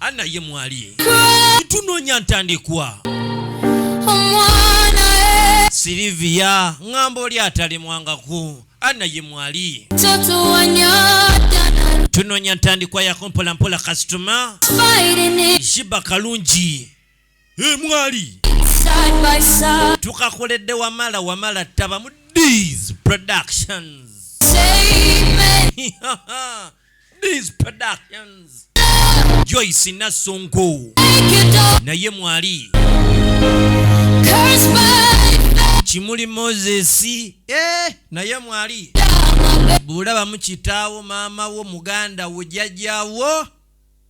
Ana ye mwali tunonya ntandikwa omwana e Silivia ngamba oli atalemwangako Ana ye mwali tunonya ntandikwa yakompolampola kasitoma shiba kalungi emwali tukakoledde wamala wamala taba mu these productions these productions joyce nassonko naye mwali kimuli moses eh, naye mwali bwolabamu kitaawo maama wo muganda wo jajjawo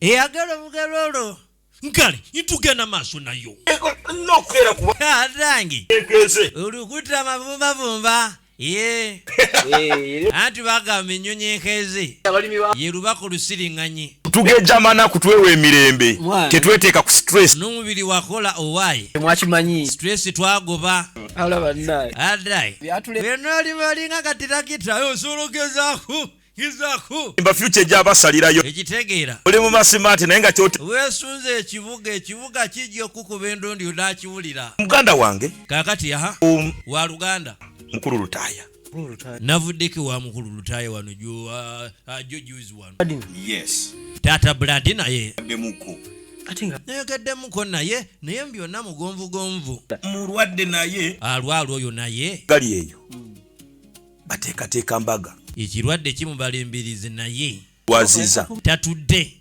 eyagala obugalo olwo nkale itugenda maaso nayo adange olukuta amavumbavumba ye anti bagamba ennyonyi enkeze ye lubaka olusiriŋŋanyi tugejamana kutwewa emirembe tetweteeka ku stress n'omubiri wakola owaye mwakimanyi stress twagoba alaba naye adai byatule byonna oli malinga katirakita osobola ogezaako imba future gya basalirayo ekitegeera oli mu masimaati naye nga kyote weesunze ekibuga ekibuga kijja okukuba endondi onakiwulira muganda wange kakati aha um, wa luganda mukulu lutaaya navuddeko wa mukulu lutaaya wano jojuzi uh, uh, wano yes taata buladi naye nayogeddemuko naye naye mbyonna mugonvugonvu mulwadde naye alwalwa oyo naye gali eyo mm. bateekateeka mbaga. Ekirwadde kimubala embirizi naye waziza tatudde.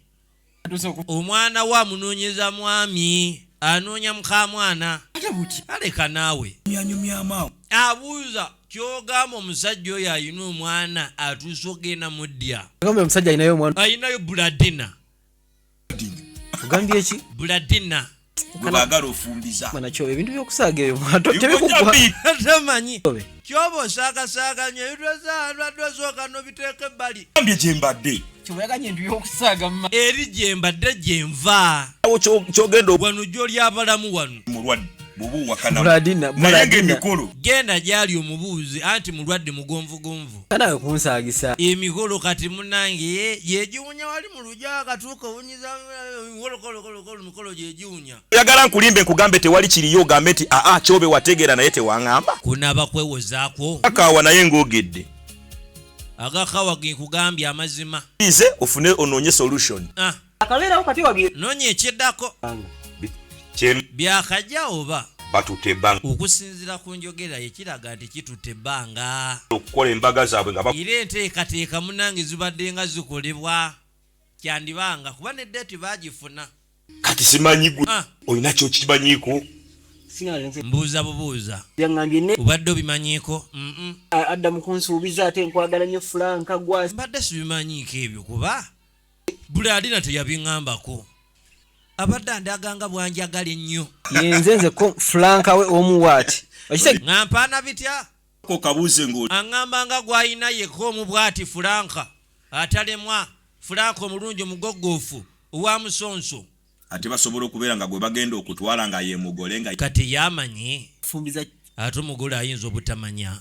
Omwana we amunoonyeza mwami, anoonya mukamwana aleka naawe abuuza kyogamba omusajja oyo alina omwana atuusa ogenda mudya alinayo buladina ogambye ki buladina gwebagala ofumbiza manakyo ebintu byokusaaga ebyo mwato tebikuggwatamanyi kyoba osaakasaaganya ebitwezaalwadde osooka nobiteeka ebbali ambye gyembadde kyoyaganya entu yokusaaga eri gyembadde gyenva awo kyogenda wano gyoli abalamu wano mulwadde genda gyali omubuuzi anti mulwadde mugonvugonvu kanawe kunsaagisa emikolo kati munange yegiwunya wali mu oyagala nkulimbe nkugambe tewali kiriyo ogambe nti aa ah, ah, kyobe wategeera naye tewaŋamba kunaba kwewozaako akawa naye ng'ogedde agakawa genkugambye amazima ize ofune onoonye solution ah. akabeerawo kati wabye noonya ekiddako byakajja oba batutte ebbanga okusinzira ku njogera ye kiraga nti kitutte ebbanga okukola embaga zaabwe nga era enteekateeka munange zibadde nga zikolebwa kyandibanga kuba ne deeti baagifuna kati simanyi gwe ah. olina kyokimanyiiko mbuuza bubuuza obadde obimanyiiko adda mukunsuubiza ate nkwagala nyo fulanka gwa mbadde sibimanyiiko ebyo kuba buli alina teyabiŋambako abadde andaganga bwanjagala ennyo yenze nze ko fulanka we omu waati ŋampaana bitya kokabuuze ngo aŋamba nga gwalina yeka omu bwati fulanka atalemwa fulanka omulungi omugoggoofu owa musonso Ate basobola okubera nga gwebagenda okutwala nga yemugole nga. Kati ye amanyi? Fumbiza ki? Ate omugole ayinza obutamanya.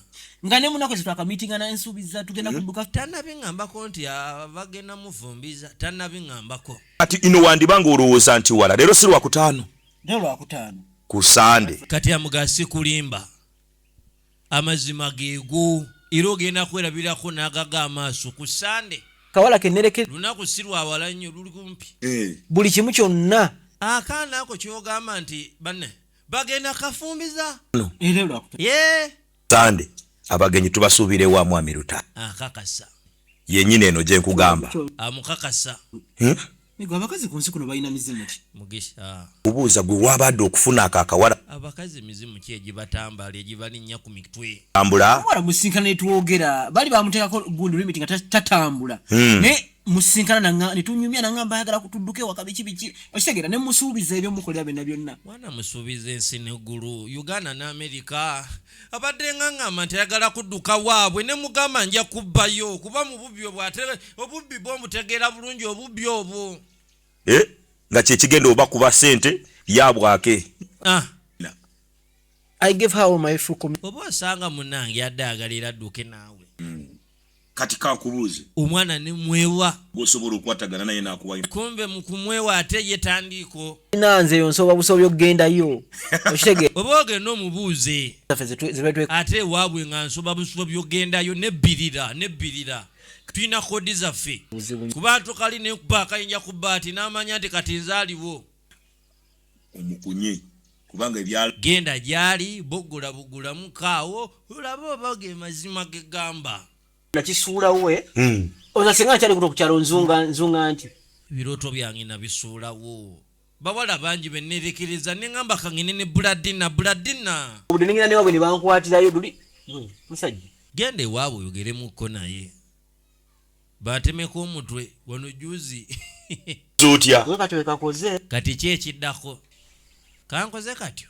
Nga nemunako ezo twakamitingana nsubiza tugenda hmm? kuduka. Tanabingambako nti abagenda mufumbiza tanabingambako. Kati ino wandiba nga olowooza nti wala lero si lwakutaano. Lero lwakutaano. Ku sande. Kati amuga sikulimba. Amazima gego era ogenda kwerabirako nagaga amaaso ku sande. Kawala ke nereke. Lunaku si lwa wala nnyo luli kumpi. Buli kimu kyonna. Akaana ako kyogamba nti banne bagenda kafumbiza. Yee. Sande abagenyi tubasuubire wa mwami Lutaaya? Akakasa. Yenyini eno gyenkugamba. Amukakasa. Nigo abakazi kunsi kuno balina mizimu ki? Mugisha. Kubuuza gwe wabade okufuna ako akawala. Abakazi mizimu ki egibatambala egibalinya ku mitwe. Tambula. Omuwala musinkana netwogera bali bamutekako good limit nga tatambula. Hmm. Ne musinkana nanga netunyumya nanga mbayagala kutuduke wakabiki biki okitegera ne musuubiza ebyo mukolera byonna byonna. Mwana musuubiza ensi ne gulu Uganda ne America. abadde ngangamba nti ayagala kudduka waabwe ne mugamba nja kubbayo kuba mu bubbi obwo ate obubbi bwo omutegeera bulungi obubbi obwo eh, nga kyekigenda oba kuba sente yabwake ah. oba osanga munange yadde agalera adduke naawe kati kakubuuze omwana ne mwewa gwosobola okwatagana naye nakuwayo kumbe mukumwewa ate ye tandiiko ina nze yo nsoba busobi okugenda yo okitege oba ogenda omubuuze ate ewaabwe nga nsoba busobi okugenda yo nebbirira nebbirira tulina kodi zaffe kuba tukali nekuba akayinja ku baati n'amanya nti kati nze aliwo omukunye kubanga ebyalo genda gyali bogula bugula mukaawo olaba oba ge mazima ge gamba nakisuula we hmm. oza singa nkyali kuno kukyalo nzunga nzunga nti birooto byange nabisuulawo bawala bangi benerekereza neŋamba kangene ne buladina buladina obudde nengenda newabwe nebankwatirayo luli hmm, musajja genda ewaabwe oyogeremuko naye batemeka omutwe wano juzi zotya wekati wekakoze kati ki ekiddako kankoze katyo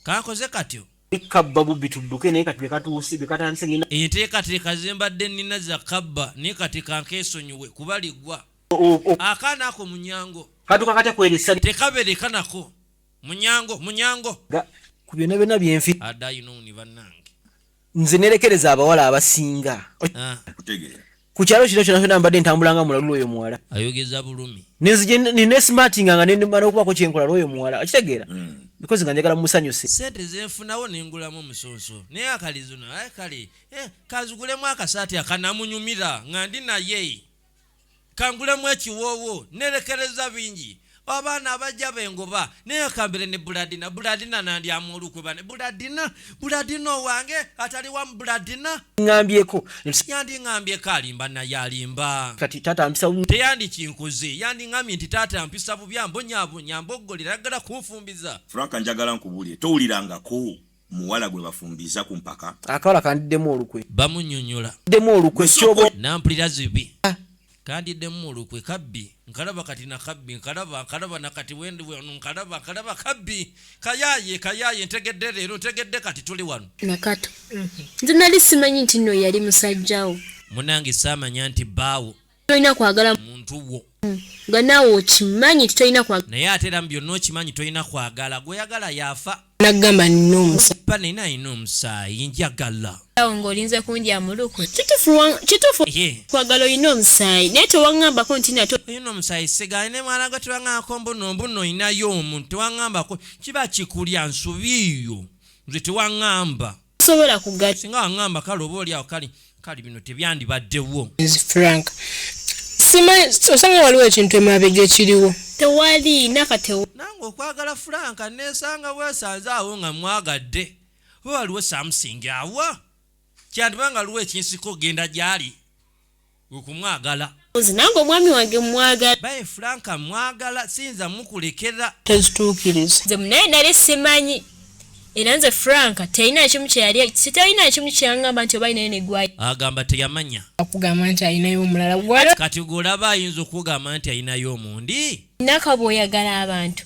kankoze katyo kabba bubbi tudduke naye kati bekatuuse bekatandise ngenda enteekateeka zembadde nina za kabba naye kati kankeesonyiwe kuba liggwa akaana ako munyango katuka katya kweresa tekabereka nako munyango munyango ku byona byona byenfi adaayinouni bannange nze nerekereza abawala abasinga ah. ku kyalo kino kyona kyona mbadde ntambulanga mulalula oyo muwala ayogeza bulumi nenzije nesmartinga nga nemala okubako kyenkola lwoyo muwala akitegeera mm. because nga njagala musanyuse sente zenfunawo nengulamu omusonso naye akalizino aye kale eh, kazigulemu akasaati akanamunyumira nga ndi naye kangulemu ekiwoowo nerekereza bingi abaana abajja bengoba naye akambire ne buladina buladina nandyamu olukwe bane buladina buladina owange atali wamu buladina ngambyeko yandi ngambyeko alimba naye alimba kati tata mpisa bubi teyandi kinkoze yandi ngambye nti tata mpisa bubi ambonyabonya mboggolera aggala kunfumbiza franka njagala nkubulire towulirangako muwala gwe bafumbiza ku mpaka. Akawala kandiddemu olukwe. Bamunyonyola. Demu olukwe kyobo. Nampulira zibi. Ah. Kandiddemu olukwe kabbi. Nkalaba kati na kabbi. Nkalaba, nkalaba na kati wendi wano. Nkalaba, nkalaba kabbi. Kayaye, kayaye. Ntegedde leero. Ntegedde kati tuli wano. Nakato. Nze nali simanyi nti no yali musajjawo. Munange samanya nti baawo. tolina kwagala muntu wo nga naawe okimanyi nti tolina kwagala naye ate era mu byonna okimanyi tolina kwagala gweyagala yaafa nagamba nina omusaiba naye nalina omusaayi njagala awo ng'olinze kunja muluku kitufu kwagala olina omusaayi naye tewaŋambako nti nato olina omusaayi sigaye ne mwana gwe tewaŋambako mbuno mbuno olinayo omuntu tewaŋambako kiba kikulya nsubiiyo nze tewaŋamba sobola kugatta singa wangamba kale oba oli awo kale kale bino tebyandibaddewo frank osanga waliwo ekintu emabega ekiriwo tewali nakatewo nange okwagala franka nesanga wesanze awo nga mwagadde oba waliwo samusingi awa kyandiba nga liwo ekinsika ogenda gyali wekumwagala. Nze nange omwami wange mwagala. Baye Frank mwagala siyinza mukulekera. Tezitukiriza. Nze munaye nali simanyi. Era nze Frank teyina ekimu kyeyali sitayina ekimu kyangamba nti oba inayo negwayo. Agamba teyamanya. Akugamba nti ayinayo omulala gwala. Kati gwolaba ayinza okugamba nti ayinayo omundi. Nakabwoyagala abantu.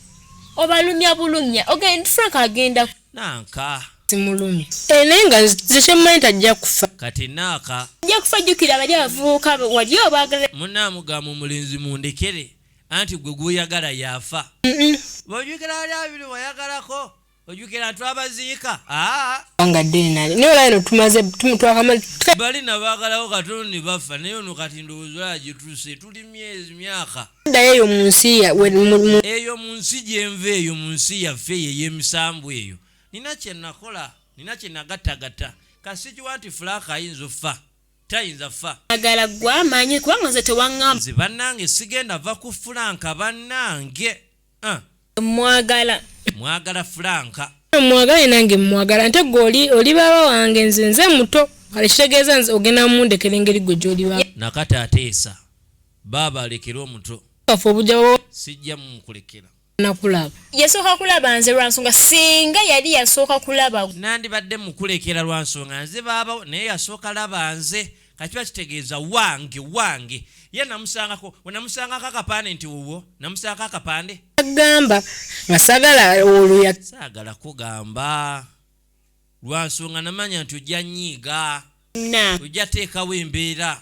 Obalumya bulumya. Ogenda Frank agenda. nanka simulumi ene nga nze kyemmanyi tajja kufa kati naaka ajja kufa jjukira bali abavubuka wali obaagala munaamugamba omulenzi mundekere anti gwe gwoyagala yafa bojukira ali abiri wayagalako ojukira twabaziika nga denali naye olabino tumaze twakamalbali nabagalawo katono ne bafa naye ono kati ndowooza olagituse tuli myezi myaka dayo eyo mu nsi eyo mu nsi gyenva eyo mu nsi yaffe eyo ey'emisambu eyo nina kye nakola nina kye nagattagatta kasikiwa nti fulaaka ayinza offa tayinza fa agala gwa manyi kubanga nze tewaŋŋamba nze bannange sigenda va ku fulaanka bannange ah. mwagala mwagala fulanka mwagale nange mwagala nte gwe oli oli baba wange nze nze muto kale kitegeeza nze ogenda mumundekera engeri gwe gyoli baba nakata ateesa baaba alekere omuto kafe obujabo sijja mukulekera nakulaba yasooka kulaba nze lwansonga singa yali yasooka kulaba nandibadde mukulekera lwansonga nze baaba naye yasooka laba nze kakiba kitegeeza wange wange ye namusangako wenamusangako akapande nti wuwo namusangako akapande agamba nga sagala oluya sagala kugamba lwansonga namanya nti ojja nyiiga ojja teekawo embeera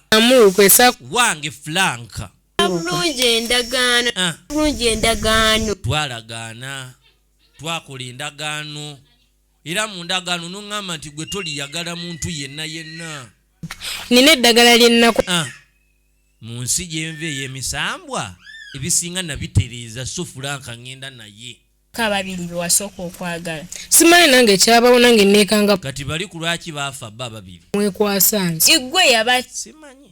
wange flanka bulungi endagaano ah. bulungi endagaano twalagaana twakola endagaano Era mu ndagaano n'oŋŋamba nti gwe toliyagala muntu yenna yenna. Nina eddagala lye nnaku. Ah, mu nsi gye nva ey'emisambwa ebisinga nabitereeza so fulanka ŋŋenda naye. Ka babiri be wasooka okwagala. Simanyi nange kyabawo nange nneekanga. Kati bali ku lwaki baafa bo ababiri. Mwekwasa nze. Iggwe yaba. Simanyi.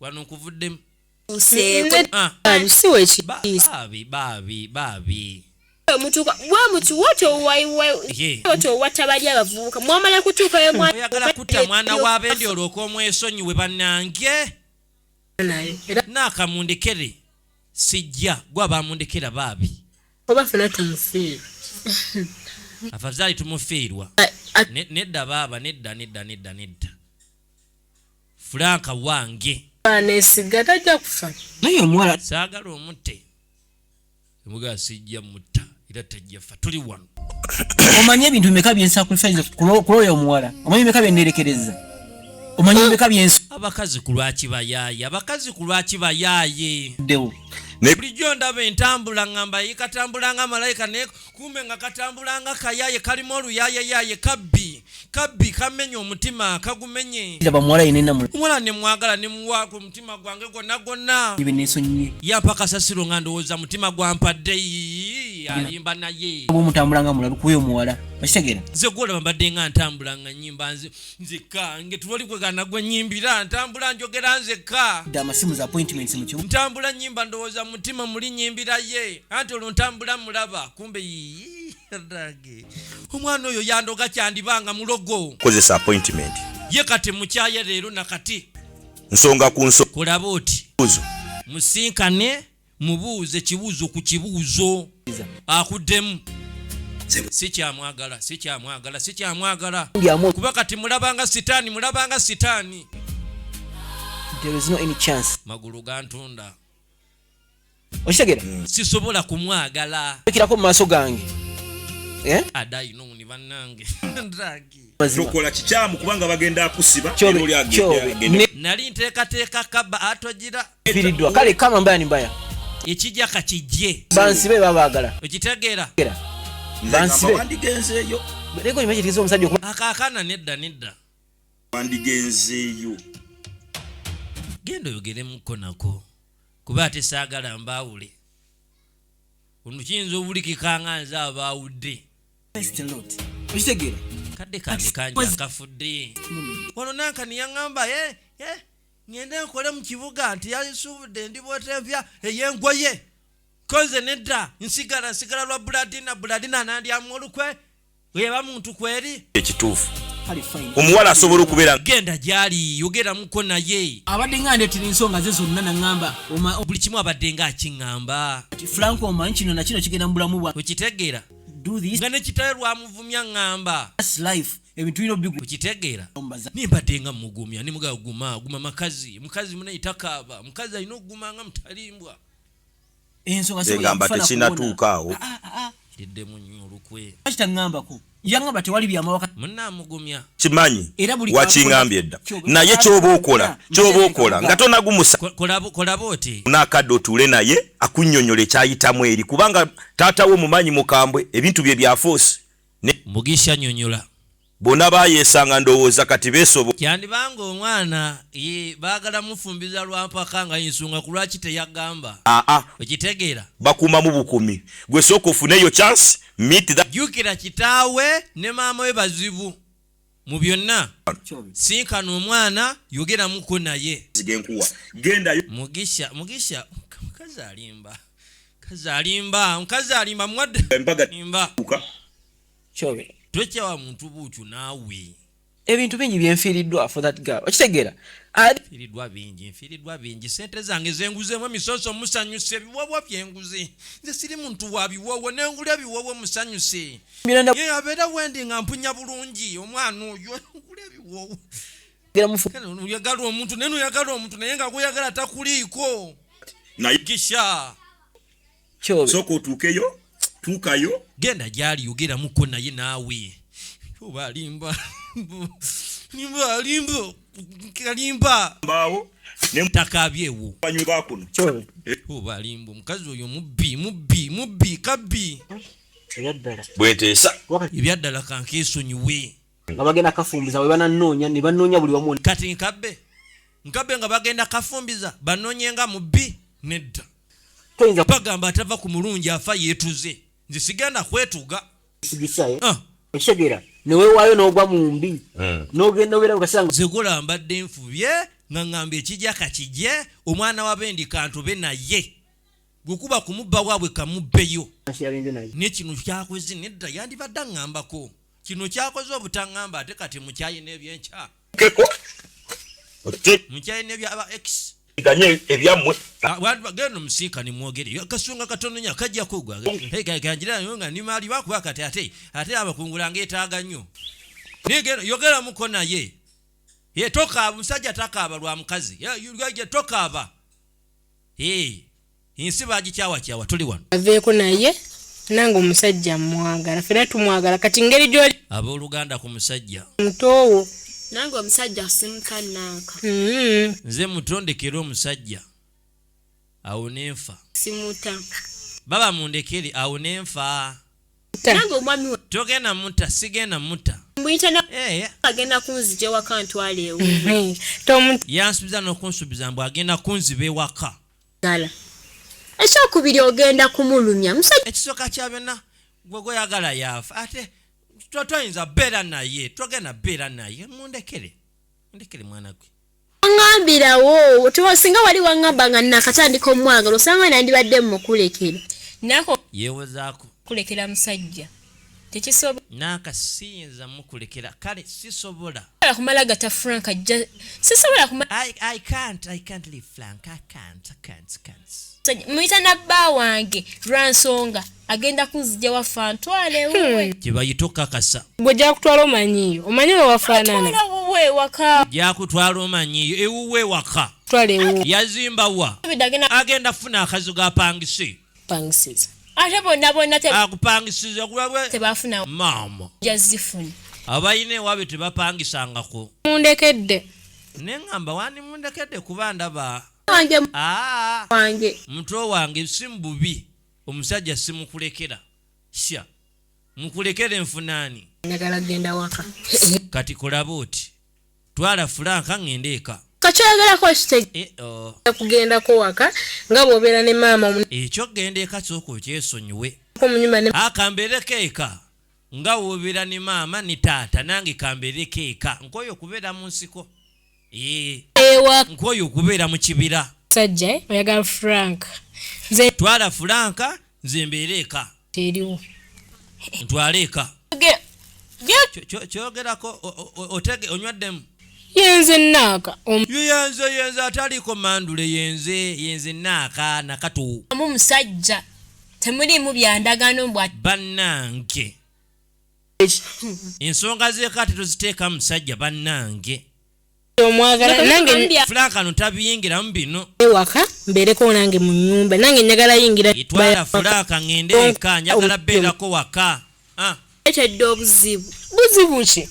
wano nkuvuddemu bwamutuwatobali abavubuka mwamala kutuukaoyagala kutta mwana wa bendi olwoka omwesonyiwe banange nakamundekere sijja gwa bamundekera baabi oba fena tumufiirwa afazaali tumufiirwa nedda baaba nedda nedda nedda nedda Frank wange anesiga tajja kufa naye omuwala saagala omutte emugaa sijja mutta era tajja fa tuli wano omanyi ebintu bimeka byensacrifice kulooya omuwala omanyi bimeka byenerekereza omanyi bimeka byensi abakazi ku lwaki bayaaye abakazi ku lwaki bayaaye ddewo bulijjo ndaba entambula ngamba yikatambulanga malayika naye kumbe nga katambula nga kayaye kalimu oluyayeyaye kabbi kabbi kamenye omutima kagumenye omuwala nemwagala nemuwaako omutima gwange gonna gonna yampa kasasiro nga ndowooza mutima gwampadde alimba naye ze gwolaba mbadde nga ntambula nga nyimba nze nzekka ngetuloli kwegana gwe nyimbira ntambula njogera nzekka amasimu za appointments mu kimu ntambula nyimba ndowooza mutima muli nyimbira ye anti olwo ntambula mulaba kumbe yiyi rage omwana oyo yandoga kyandibanga mulogo kozesa appointment ye kati mukyaye leero nakati nsonga ku nso kulaba oti musinkane mubuuze kibuuzo ku kibuuzo akuddemu sikyamwagala sikyamwagala sikyamwagala kuba kati mulabanga sitaani mulabanga sitaani magulu gantunda okitegera hmm. sisobola kumwagala ekirako mu maaso gange eh? adainoni bannange tokola kikyamu kubanga bagenda akusiba nali ntekateeka kaba atogira firidwa kale kama mbaya ni mbaya ekijja kakijje bansibe babagala okitegeera bansibe wandigenzeeyo leko nyuma kitegeeza omusajja okuba akaakana nedda nedda wandigenzeeyo genda oyogeremukko nako kuba ate saagala mbaawule ono kiyinza obulikikanga nze abaawudde okitegeera kadde kange kangi akafudde wano nanka neyaŋamba e eh, e eh, ŋende nkole mu kibuga nti yasuubudde ndi bwetempya eyengoye koze nedda nsigala nsigala lwa buladina buladina nandyamu olukwe weba muntu kweri ekituufu omuwala asobola okubeera genda gyali yogeramuko naye abadde nga ndetera ensonga ze zonna naŋamba buli kimu abadde nga akiŋamba frank omanyi kino nakino kigenda mu bulamu bwa okitegeera nga nekitawe lwamuvumya ŋŋamba ebintu bino bigu kitegeera nimbadde nga mugumya nimugaa guma guma makazi mukazi munaye takaaba mukazi alina okuguma nga mutalimbwa ensongaegamba tekinatuukaawo ah, ah, ah, didde munyo olukwe kitaŋambako yangamba tewali byamawaka munamugumya kimanyi wakingambye dda naye kyoba okola kyoba okola nga tonagumusa kolaba oti nakadde otuule naye akunyonyola ekyayitamu eri kubanga Taata we omumanyi mukambwe ebintu bye bya force ne Mugisha nyonyola. Bona bayesanga ndowooza kati besobo. Kyandiba nga omwana ye bagala mufumbiza lwa mpaka nga yensonga kulwaki teyagamba. Aa. Okitegeera. Bakumamu bukumi. Gwe sooka ofune eyo chance meet that. Jukira kitaawe ne maama we bazibu. mu byonna sinkana omwana yogeramuko naye mugisha mugisha mukazi alimba mukazi alimba mukazi alimba mwaddeimba tokyawa muntu buutyo naawe ebintu bingi byenfiiriddwa for that girl okitegeera firidwa bingi nfiridwa bingi sente zange zenguzemu emisoso musanyuse ebiwowo byenguzi nze siri muntu wa biwowo nengula ebiwowo musanyuse abeera wendi nga mpunya bulungi omwana oyo oyagala omuntu naye noyagala omuntu naye nga guyagala takuliiko kisha soka otuukeyo tuukayo genda gyali yogeramuko naye naawe oba alimba limba alimba kalimba mbaawo takabyewo banywe bakuno oba alimba omukazi oyo mubbi mubbi mubbi kabbi bweteesa ebyaddala kankesonyiwe nga bagenda kafumbiza we bananoonya ne banoonya buli wamu kati nkabbe nkabbe nga bagenda kafumbiza banoonye nga mubbi nedda toyinza bagamba atava ku mulungi afa yeetuze nze sigenda kwetuga sigisayo ah. ekitegeera newewaayo n'ogwa mu mbi hmm. n'ogenda obeera mukasanga zegula mbadde nfubye nga ngamba ekijja kakijje omwana wabendi kantube naye gwekuba kumubba waabwe kamubbeyo naye kino kyakoze nedda yandibadde aŋŋambako kino kyakoze obutaŋŋamba ate kati mukyayi n'ebyenkya mukyayi nebyaba x ganye ebyammwe genda omusiika ne mwogere akasonga katononya kajja kugwaganjirayo nga ni maali bakuba kati ate ate abakungula ngaetaaga nnyo yogeramuko naye ye tokaaba omusajja takaaba lwa mukazi tokaaba ensi bagikyawakyawa tuli wano aveeko naye nange omusajja mwagala fena tumwagala kati ngeri gyoli abooluganda ku musajja mutoowo nange omusajja asinka nanka mm-hmm. nze mutondekere omusajja awo nenfa simuta baba mundekere awo nenfa nange omwami we togenda muta sigenda muta mbuyita na eh, eh. agenda kunzija ewaka ntwala ewo mhm. tomuntu yansubiza n'okunsubiza mbu agenda kunziba ewaka gala ekyokubiri ogenda kumulumya musajja ekisooka kya byonna gwe gweyagala yaafa ate twayinza beera naye twagenda beera naye mundekere mundekere mwana gwe Ngambirawo singa wali wangamba nga nakatandika omwagala osanga nandibadde mukulekera nako yewozaako kulekera musajja tekisobola naka siyinza mukulekera kale sisobola kumala gata frank ajja sisobola muyita nabba wange lwansonga agenda kunzija waffe antwale hmm. wuwe kyebayita okukakasa gwe gyakutwala omanyiyo omanyi wewafaanana wuwe waka gyakutwala omanyiyo ewuwe waka twala ewuwe yazimba wa agenda funa akazi gapangise pangisiza ate bonna bonna akupangisiza kulabwe tebafuna maama jazifuna abalina ewaabwe tebapangisangako mundekedde ne ŋŋamba wandi mundekedde kuba ndaba wange ah. mutwe wange si mububi Omusajja simukulekera sha mukulekere nfunaani njagala genda waka kati kolaba oti twala fulanka ngende eka kakyoyogerako kitegeekugendako eh, oh. waka nga bwobeera ne maama ekyo genda eka kyoka okyesonyiwe akambeereko ah, eka nga wobeera ne maama ne taata nange kambeereko eka nkooyo okubeera mu nsiko ewa nkwoyo okubeera mu kibira sajja eh, oyagala frank nze twala franka nze mbeera eka teriwo ntwala eka kyogerako otege onywaddemu yenze naaka yenze yenze ataliko mandule yenze yenze naaka nakatu amu musajja temuliimu byandagano bwa bannange ensonga zekati toziteeka musajja bannange omwagalafulakano tabiyingiramu bino ewaka mbeereko nange mu nyumba nange njagala yingira itwala fulaka ngende eka njagala beerako waka ah. etedde obuzibu buzibu ki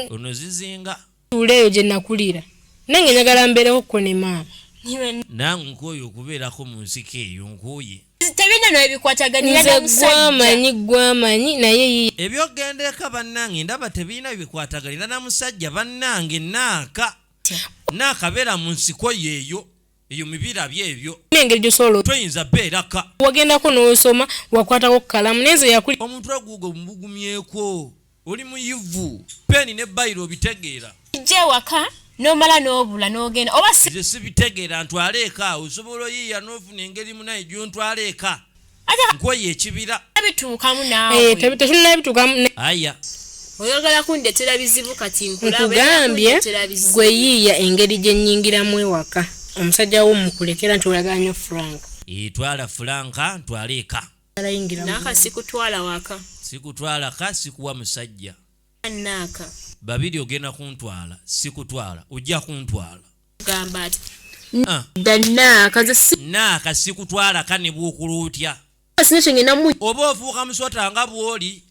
ono zizinga Tuula eyo gye nakulira. Nange njagala mbeereko ko ne maama. Nange nkooye okubeerako mu nsiko eyo nkooye. Tebirina nawe bikwataganira na musajja. Nze gwamanyi gwamanyi naye yiye. Ebyokugenda eka bannange ndaba tebirina bikwataganira na musajja bannange naaka naakabeera mu nsiko yeeyo. eyo mibira byebyo nengeri gyosolo toyinza beeraka wagendako n'osoma wakwatako kukalamu nenze yakuli omuntu aguuga omubugumyeko oli muyivu peeni ne bayiro obitegeera ijja ewaka nomala nobula nogenda oba sibitegeera ntwala eka osobola oyiiya nofuna engeri munaye gyontwala eka nkweyo ekibira bituukamu naawe eh, tetunna bituukamu aya oyagala kundetera bizibu kati nkugambye gwe yiiya engeri gye nnyingiramu ewaka omusajja wo mukulekera nti oyagala nyo frank eh, twala fulanka ntwala eka naka sikutwala waka sikutwala ka sikuwa musajja naka babiri ogenda kuntwala sikutwala ojja kuntwala kugamba ati ah. naaka sikutwala kanebwokula otya oba ofuuka musota nga bwoli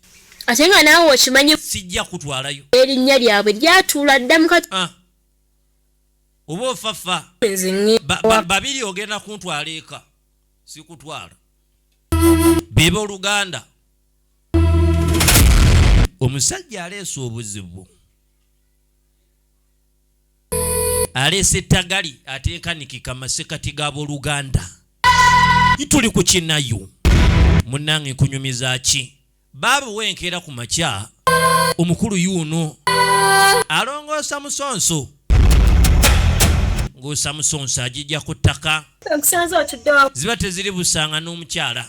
ate nga naawe okimanyi sijja kutwalayo erinnya lyabwe lyatuula dda mukati ah. oba ofafa babiri ogenda kuntwala eka sikutwala beba oluganda omusajja aleesa obuzibu aleese ettagali atenkanikika masekati g'aboluganda ituli ku kinayo munnange nkunyumiza ki baabuwa enkeera ku makya omukulu yuuno alongoosa musonso ng'osa musonso agijja ku ttaka ziba teziri busanga n'omukyala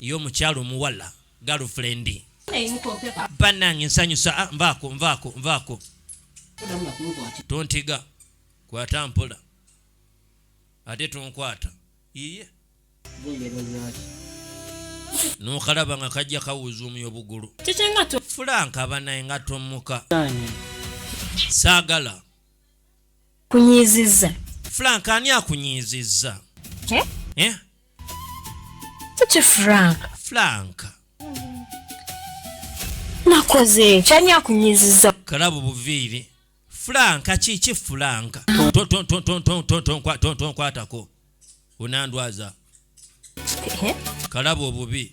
ye omukyala omuwala girlfriend banange nsanyusa ah, nvaako nvaako nvaako tontiga kwata mpola ate tonkwata iye nokalaba nga kajja kawuzuumya obugulu fulanka banaye nga tomuka saagala kunyiizizza fulanka ani akunyiizizza eh? ki frank frank nakoze kyani akunyiziza kalabu buviiri franka kiki franka tonkwatako onandwaza kalabu obubi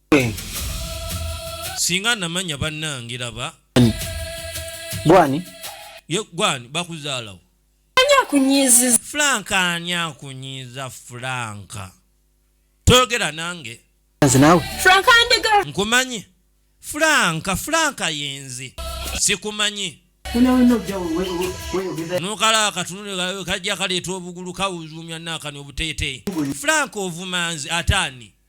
singa namanya bannange laba gwani gwani bakuzaalawo akunyiiziza frank ani akunyiiza frank toyogera nange frank andega nkumanyi frank frank yenze sikumanyi nokala akatunule kajja kaleeta obugulu kawuzuumya nakani obuteeteeyi frank ovumanzi ataani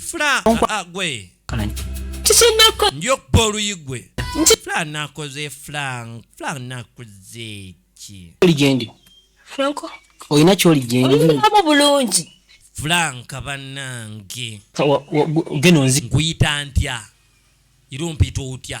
fula agwe kikinako njokuba oluyi gwe fula nakoze fula fula nakoze ki oli gyendi franco olina kyoli gyendi olinamu bulungi fulanka banange geno nzi nkuyita ntya era ompita otya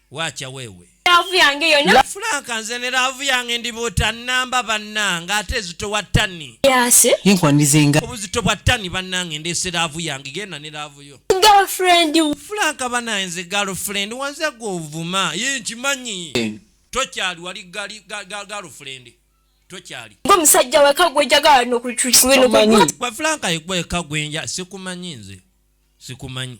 waakya weewe laavu yange yona fulanka nze ne laavu yange ndibuuta namba bannange ate ezitowa tani yase yenkwanirizenga obuzito bwa tani bannange ndeese laavu yange genda ne laavu yo girlfriend fulanka banaye nze girlfriend wanze gwe ovuma ye nkimanyi eh. tokyali wali girlfriend tokyali gwe musajja weka gwejagala nokutukiwe nokumanyi gwe fulanka yegweka gwenja sikumanyi nze sikumanyi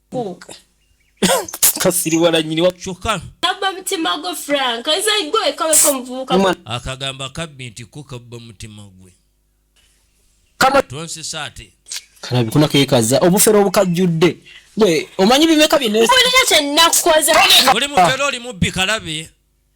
kasiriwala nyini wakyokka kabba mutima gwe frank nze gwe kaweka omuvubuka akagamba kabbi nti ko kabba mutima gwe tonsesa ate kalabi kuna kekaza obufere obukajjudde gwe omanyi bimeka byeneza kyenakukoza oli mufere oli mubbi kalabi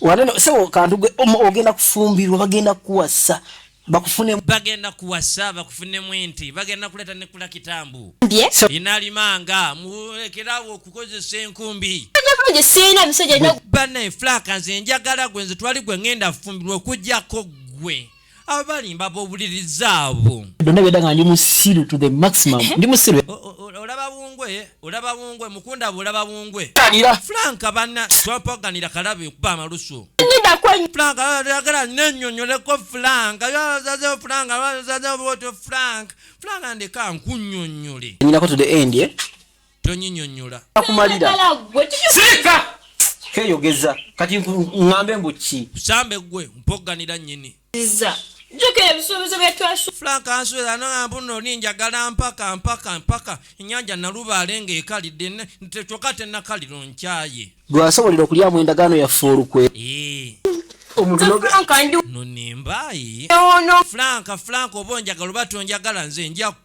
waneno sebo kantu ogenda kufumbirwa bagenda kuwasa bakufune bagenda kuwasa bakufune mwinti bagenda kuleta ne kula kitambu inalimanga murekerawo okukozesa enkumbi bane flaka nze njagala gwe nze twali gwe ngenda fumbirwa okujjako gwe abalimba bobuliriza abo byonna byedda nga ndi musiru to the maximum eh? ndi musiru olaba bungwe olaba bungwe mukunda bwe olaba bungwe tanira frank banna twapaganira kalabe kuba amalusu ngenda kwenyu frank ayagala nenyonyoleko frank yazaze frank yazaze boto frank frank ndeka nkunyonyole nyinako to the end eh? tonyinyonyola akumalira sirika keyogeza kati ngambe mbu ki sambe gwe mpogganira nyini iza jukira ebisuubizo byetwasu frank answera nagamba no ninjagala mpaka mpaka mpaka enyanja nalubaale nga ekalidde kyoka tenakaliro nkyaye gweasobolera okulyamu endagaano yaffe olukwe omuntunonimbayi frank frank oba onjagala oba tonjagala nze njaku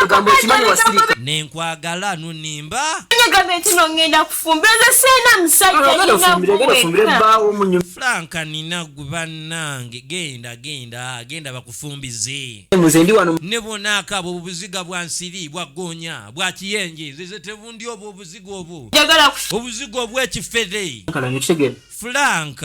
Ekigambo ekimanyi wasirika. Nenkwagala nunimba. Ekigambo ekino ngenda kufumba eze sena musajja nina kufumbira genda fumbire baawo munyu. Frank nina gwe bannange genda genda genda bakufumbize. Muze ndi wano. Ne bona akabo obuziga bwa nsiri bwa gonya bwa kiyenje zeze tebundi obwo obuziga obwo. Jagala kufu. Obuziga obwekifere. Kala nyo kitegere. Frank.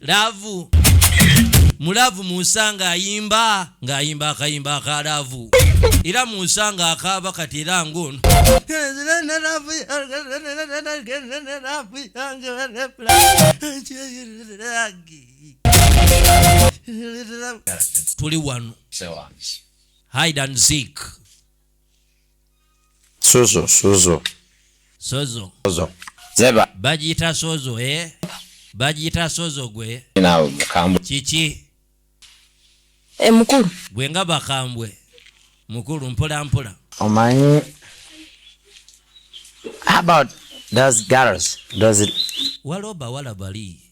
laavu mulaavu munsa ng'ayimba ng'ayimba akayimba aka laavu era munsa ng'akaaba kati era ng'ono tuli wano hide and seek sozo sozo sozo sozo zeba bagiyita sozo eh bagiyita sozo gwe nawe mukambwe kiki e mukulu gwe nga bakambwe mukulu mpola mpola omanyi about those girls those waliwo bawala bali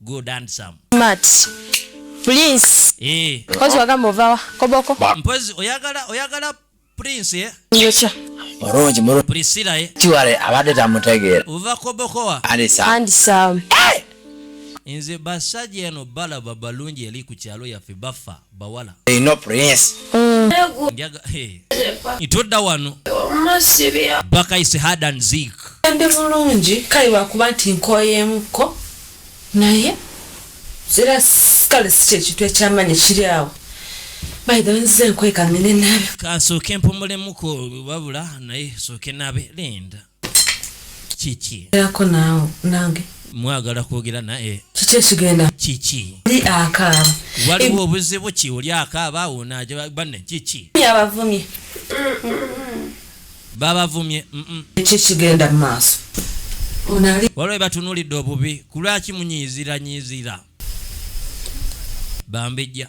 good handsome Smart. Please. eh Kozi wagamba ovawa koboko. mpozi oyagala oyagala prince eh Nyocha. mulungi mulungi priscilla eh kiwale abadde tamutegeera uva kobokowa alisa And some. nze basajja eno balaba balungi eri ku kyalo yaffe bafa bawala they know prince mm. njaga hey itoda wano masibya baka is hard and zik ndi mulungi kai bakuba nti nkoyemu ko naye zira kale si kyekintu ekyamanyi kiri awo baidha nzize enkweka ngende nabe kasooke mpumulemuko wabula naye sooke nabe linda kiki erako naawe nange mwagala kwogera naye kiki ekigenda kiki oli akaaba waliwo obuzibu ki oli akaaba awo nabanne kiki abavumye babavumye kiki kigenda mu maaso waliwo batunulidde obubi kulwaki munyiiziranyiizira bambejja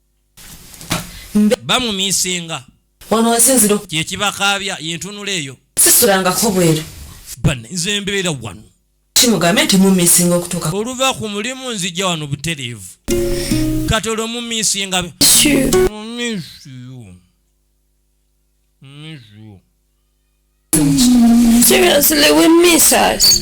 bamumisinga wano wasinzira kyekibakaabya yentunula eyo sisulangako bweru bane nze mbeera wano kimugambe nti mumisinga okutuuka oluva ku mulimu nzija wano butereevu kati olwo mumisinga Seriously, we miss us.